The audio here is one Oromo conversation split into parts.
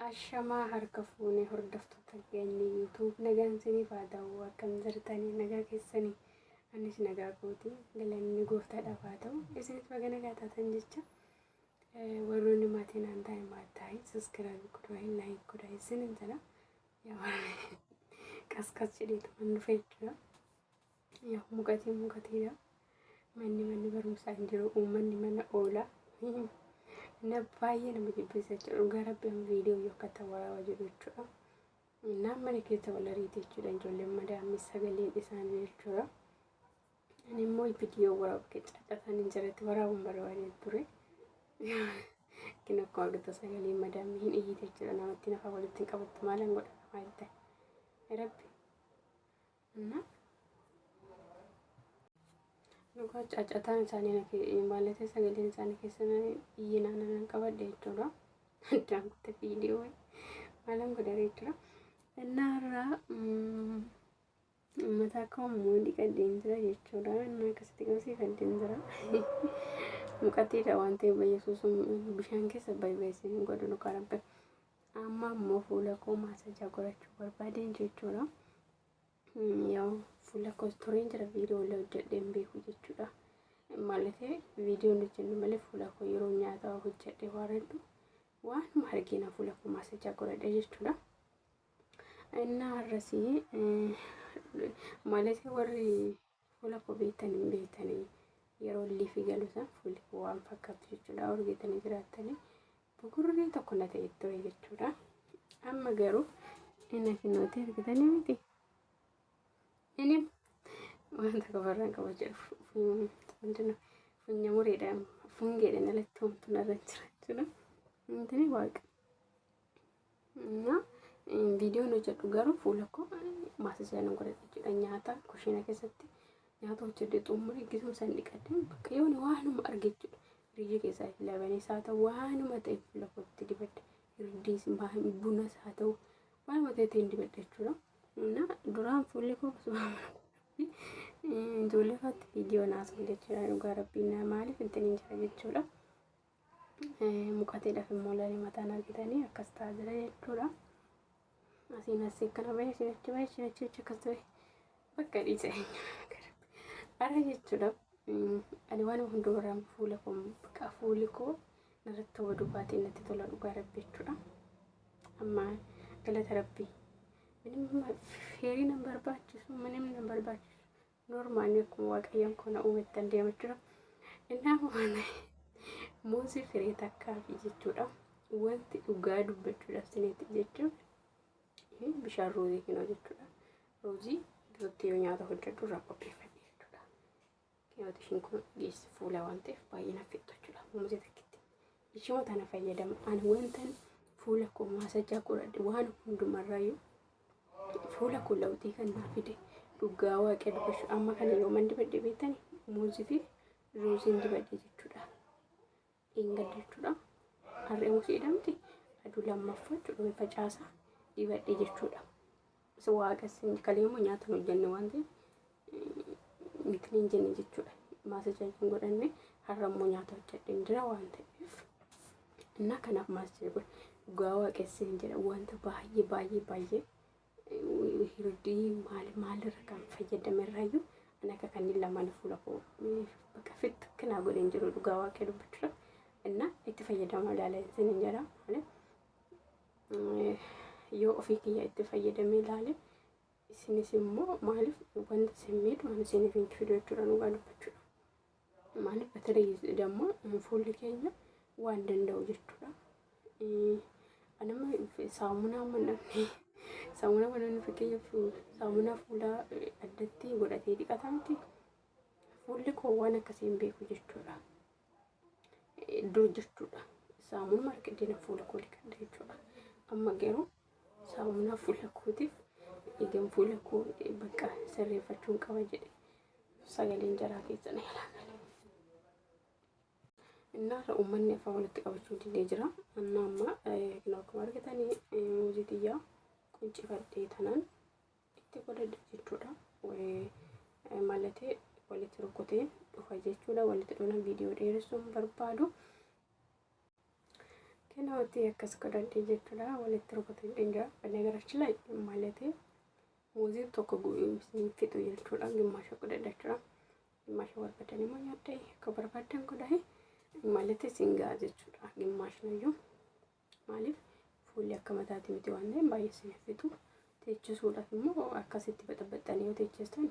Ashamaa harka fuunee hordoftoota keenya YouTube nagaan isiniif haa ta'u akkam jirtanii nagaa keessanii anis nagaa kooti galanni gooftaadhaaf haa ta'u isinis baga nagaa taatan jecha warroonni maatiin aan ta'e maattaa'i saskiraayib godhaa laayik godhaa isin hin jedha Qasqas jedheetu kan dhufe jechuudha. Yaa mukatii mukateedha. Manni manni barumsaa hin jiru. Uummanni mana oola. Na baay'ee nama jibbisa jechuudha. Dhugaa rabbi amma viidiyoo yoo akka ta'u waraaba jedhu jechuudha. Naan mana keessa wal ariite jechuudha. Ijoolleen madaamni sagaleen isaanii jechuudha. Ani immoo viidiyoo waraabu kee caacasaan hin jiretti waraabuun barbaadee ture. Kin akkuma argitu sagalee madaamni hin iyyite jechuudha namatti nafa walitti hin qabattu maalan godha maal ta'e. Rabbi. Anna. Dhugaa caacataan isaanii na kee maallattee sagaleen isaanii keessa na iyyinaa na nan qabadhe jechuudha. Addaan kutte viidiyoo maalan godha jechuudha. Innaa irraa Mataa koo immoo dhiqadheen jira jechuudha. Inni akkasitti qabsiifadheen jira. Muqatiidha waan ta'eef bayyisuu sun bishaan keessa bayyeessee hin godhu dhugaa rabbi. Amma immoo fuula koo maasajaa godhachuu barbaadeen jechuudha. Yoo fuula koos tureen jira viidiyoo illee hojjedhee hin beeku jechuudha. Maaliif viidiyoon hojjennu malee fuula koo yeroo nyaata hojjedhee waaradhu waanuma argina fuula koo maasajaa godhadha jechuudha. Innaa har'asii maalesee warri fuula koo beektan hin beektanii yeroo illee fi galuusan fuulli koo waan fakkaatu jechuudha urgeetanii jiraattanii bukurree tokko na ta'e ture jechuudha. Amma garuu inni finnootee argitanii miti. Inni waan tokko barraan qaba jedhu funya mureedhaan fungeedhaan alatti homtuun irra jira jechuudha. Inni waaqa. እና viidiyoon hojjedhu garuu fuula koo maasisa nan godhadha jechuudha nyaata kushiina keessatti nyaata hojjedhe xumure gisuma san dhiqadhe bakka yoon waanuma arge jechuudha riijii keessaa fi labanis haa ta'u waanuma ta'e fuula kootti dibadhe hirdiis bunas haa ta'u waanuma ta'e ittiin dibadhe jechuudha እና duraan fuulli koo ijoollee faatti viidiyoo naasuun jechuudha dhugaa rabbiin maaliif ittiin hin jira jechuudha. Muqatiidhaaf immoo lalee mataan argitanii akkas ta'a jira jechuudha. Asiin asii akkana bahee asii achi bahee asii achi achi akkas ta'e bakka dhiise. Ara jechuudha. Ani waan hundumarraan fuula koo bakka fuuli koo narratti hawwa dubbaatiin natti tola dhugaa rabbi jechuudha. Amma galata rabbi. Minimma feerii nan barbaachisu minimma nan barbaachisu. Norma ani akkuma waaqayyoon koo na uumettan deema jira. Innaa waan muuzii firii takkaafi jechuudha. Wanti dhugaa dubbachuudhaaf sineetti jechuun inni bishaan ruuzii kinoo jechuudha. Ruuzii duratti yoo nyaata hojjedhu irraa qopheeffadhe jechuudha. Kinooti ishiin kun geessi fuula waan ta'eef baay'ee naaf fixxu jechuudha. Muuzii takkitti ishuma tana fayyadama ani wantan fuula koo maasajaa godhadhe waan hundumarrayyuu fuula koo lawxii kan naa fide dhugaa waaqee dubbachuu amma kana yooman dibadhe beektani muuzii fi ruuziin dibadhe jechuudha dhiinga jechuudha harree muusii jedhamti aduu lammaffaa jechuudha facaasaa dibadhe jechuudha waaqa isin kaleemmoo nyaatan hojjanne waan ta'eef miti hin jenne jechuudha. Maasajaajii hin godhanne har'a immoo nyaata hojjedheen jira waan ta'eef. Innaa kanaaf maasajaajii godhe dhugaa waaqessi hin jedha wanta baay'ee baay'ee baay'ee hirdii maal maalirra kan fayyadame irraayyuu ani akka kanneen lamaan fuula koo bakka fitti kanaa godhe hin jiru dhugaa waaqee dubbachuudha. Innaa itti fayyadamaa ilaalaa hin jedha malee yoo ofii kiyya itti fayyadamee ilaalee isinis immoo maaliif wanta isin miidhu ani isiniif hin fidu jechuudha dhugaa dubbachuudha. Maaliif batalee damma fuulli keenya waan danda'u jechuudha. Anama saamunaa manamne saamunaa manamne fakkeenyaaf saamunaa fuulaa addatti godhatee dhiqata miti. Fuulli koo waan akkasii hin beeku jechuudha. Dur jechuudha. Saamunuma argadhee na fuula koo dhiqadha jechuudha. Amma garuu saamunaa fuula kootiif eegan fuula koo bakka sirreeffachuun qaba jedhe sagaleen jaraa keessa na jalaa gale. Innaarra uummanni afaan walitti qabachuu didee jira. Anna amma kan akkuma argitanii muuzii xiyyaa quncifadhee tanan itti godhadhe jechuudha. Malatee walitti rukuteen dhufa jechuudha. Walitti dhufna viidiyoo dheeressuun barbaadu. Kinooti akkas godhadhee jechuudha walitti rukuteen dhingaa badda garachi lay malatee muuzii tokko fixu jechuudha gimmaasha godhadha jechuudha gimmaasha barbaadan immoo nyaadhee akka barbaadan godhahee malatee singaa jechuudha gimmaashnayyuu maaliif fuulli akka mataati miti waan ta'eef baay'ee sin fixu teechisuudhaaf immoo akkasitti baxabaxxanii yoo teechestan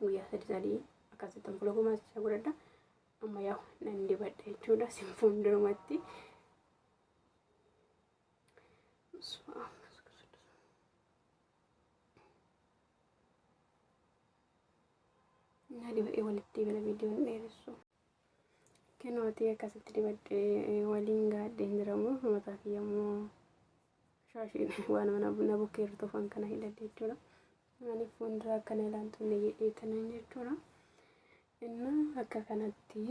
guyyaa sadii sadii akkasitti fuula koo maasichaa godhadha amma yaa nan dibadha jechuudha sin fuuldurumatti na dibadhee walitti bila viidiyoon dheeressu Kinooti akkasitti dibadhee waliin gaadheen jiramu mataa kiyya immoo shaashiin waan mana na bukkee irra tofan kana hidhadhe jechuudha. Ani fuuldura akkana ilaaltu illee jedhee tanan jechuudha. Inna akka kanatti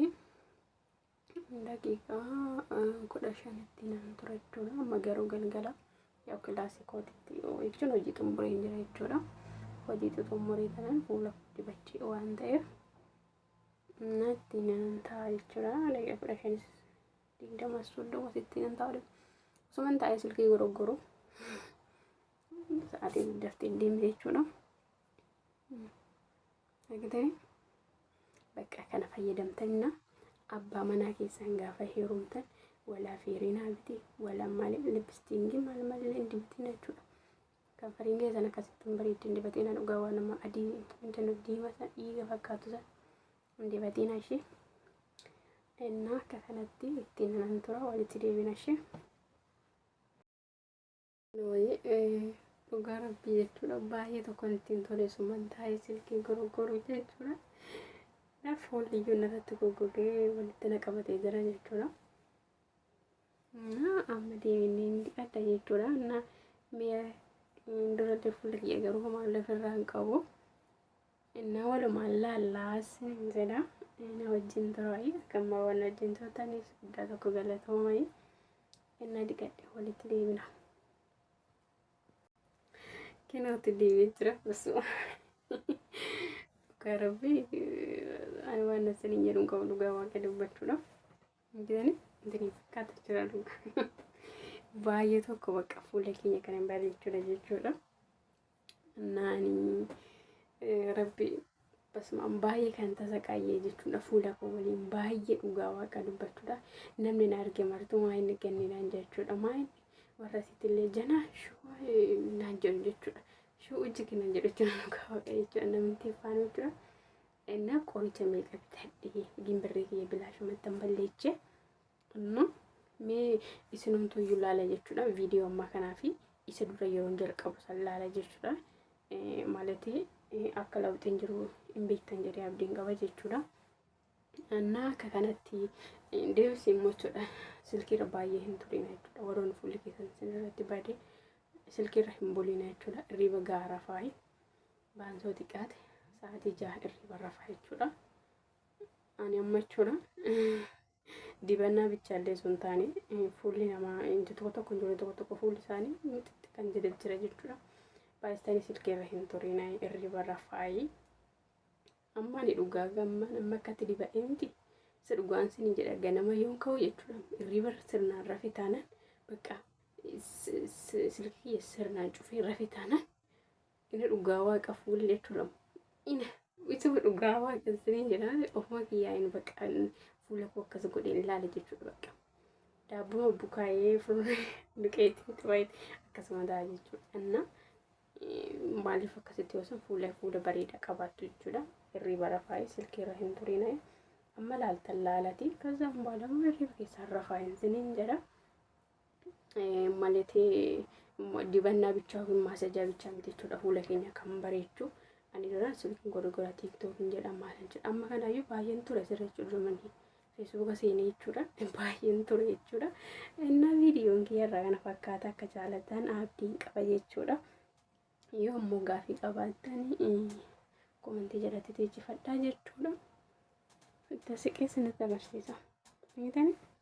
daqiiqaa kudha shanitti naan ture jechuudha. Amma garuu galgala yoo kilaasii kootitti jechuun hojii xumureen jira jechuudha. Hojii xumuree tanan fuula dibachee waan ta'eef natti nan ta'a jechuudha. Daqiiqa kudha shanis digdama soddoma sitti nan ta'a. Osuman taa'ee silkii goroggoru sa'aatiin daftee deemte jechuudha. Argitanii bakka kana fayyadamtanna abbaa manaa keessan gaafa heerumtan walaa feerinaa biti walaa malee lipstiingii maal malee dibtina jechuudha. Kan fariinlee san akkasitti hin bareeddi hin dibatiin haa dhugaa waan nama adii wanta nuuf diimaa san dhiiga fakkaatu san hin dibatiin haa ishee. Innaa akka kanatti ittiin nan tura walitti deebina ishee. Dhugaa rabbii jechuudha baay'ee tokkoon ittiin tole summan taa'ee silkii goroggoruu jechuudha. Naaf foolliyyuu narratti goggogee walitti na qabatee jira jechuudha. amma deebiin adda jechuudha na mi'a duratti fuula kiyya garuu homaa lafarraa hin qabu na walumaan laallaas hin jedha na wajjin turaayi akkamma waan wajjin turtaniif guddaa tokko galatoomayi na dhiqadhe walitti deebina kinooti deebii jira basuma dhugaa rabbii ani waan na saniin jedhu hin qabu dhugaa waaqa dubbachuudhaaf Gidani dini fakkaata jira dhuga. Baay'ee tokko bakka fuula keenya kan hin bareechudha jechuudha. Naani rabbi basumaan baay'ee kan tasaqaayee jechuudha fuula koo waliin baay'ee dhugaa waaqa dubbachuudha. Namni na arge martuu maa inni ganne naan jechuudha. Maa inni warra sitillee janaa shuu naan jedhu jechuudha. Shuu ujji kenna jedhu jechuudha dhugaa waaqa jechuudha namni tiffaan jechuudha. Innaa qoricha meeqa bitadhe gimbirree kiyya bilaashumatti hin balleeche. Amma mee isinumtuu iyyuu laala jechuudha viidiyoo ammaa kanaa fi isa dura yeroo jalqabu san laala jechuudha. Maalati akka lawxiin jiru hin beektan jedhee abdiin qaba jechuudha. Innaa akka kanatti deemsi immoo jechuudha silkiirra baay'ee hin turina jechuudha warroonni fuulli keessan isin irratti bade silkiirra hin bulina jechuudha irriiba gaara faayi. Baansoo xiqqaate sa'aatii jaha irriba rafaa jechuudha. Ani amma jechuudha dibannaa bichaallee sun taane fuulli namaa tokko tokko ijoollee tokko tokko fuulli isaanii xixiqqaa kan jedhe jira jechuudha. Baay'istanii silkeerra hin turin irriba rafaayi. Amma ani dhugaa gamma nama akkatti diba'ee miti. Isa dhugaan sini jedha ganama yoon ka'u jechuudha irriba sirnaan rafe taanaan bakka silkii sirnaan cufee rafe taanaan Ina dhugaa waaqa fuulii jechuun lama. Ina ituma dhugaa waaqa siniin jedhaan ofuma kiyyaa hin baqaan fuula koo akkas godheen ilaale jechuudha bakka. Daabbuma bukaayee fuula duqeetiin qabaayee akkasuma ta'a jechuudha. Anna maaliif akkasitti yoo san fuula fuula bareedaa qabaattu jechuudha. Hirriba rafaayee silkii irra hin turiinayee. Amma laaltan laalatii kaza baalama hirriba keessaan rafaa hin siniin jedha. Maletii dibannaa bichaa yookiin maasajaa bichaa miti jechuudha fuula keenya kan bareechu. Ani duraan silkiin gurgura tiiktookiin jedhama maal jedha amma kanaayyuu baay'een ture sirra jechuudha dumanni feesbuuka seenee jechuudha baay'een ture jechuudha. Innaa viidiyoon kiyyarraa kana fakkaata akka jaalatan abdiin qaba jechuudha. Yoo ammoo gaafii qabaattan komantii jalatti teechifadhaa jechuudha. Itti siqee sinitti agarsiisa. Miidhanii?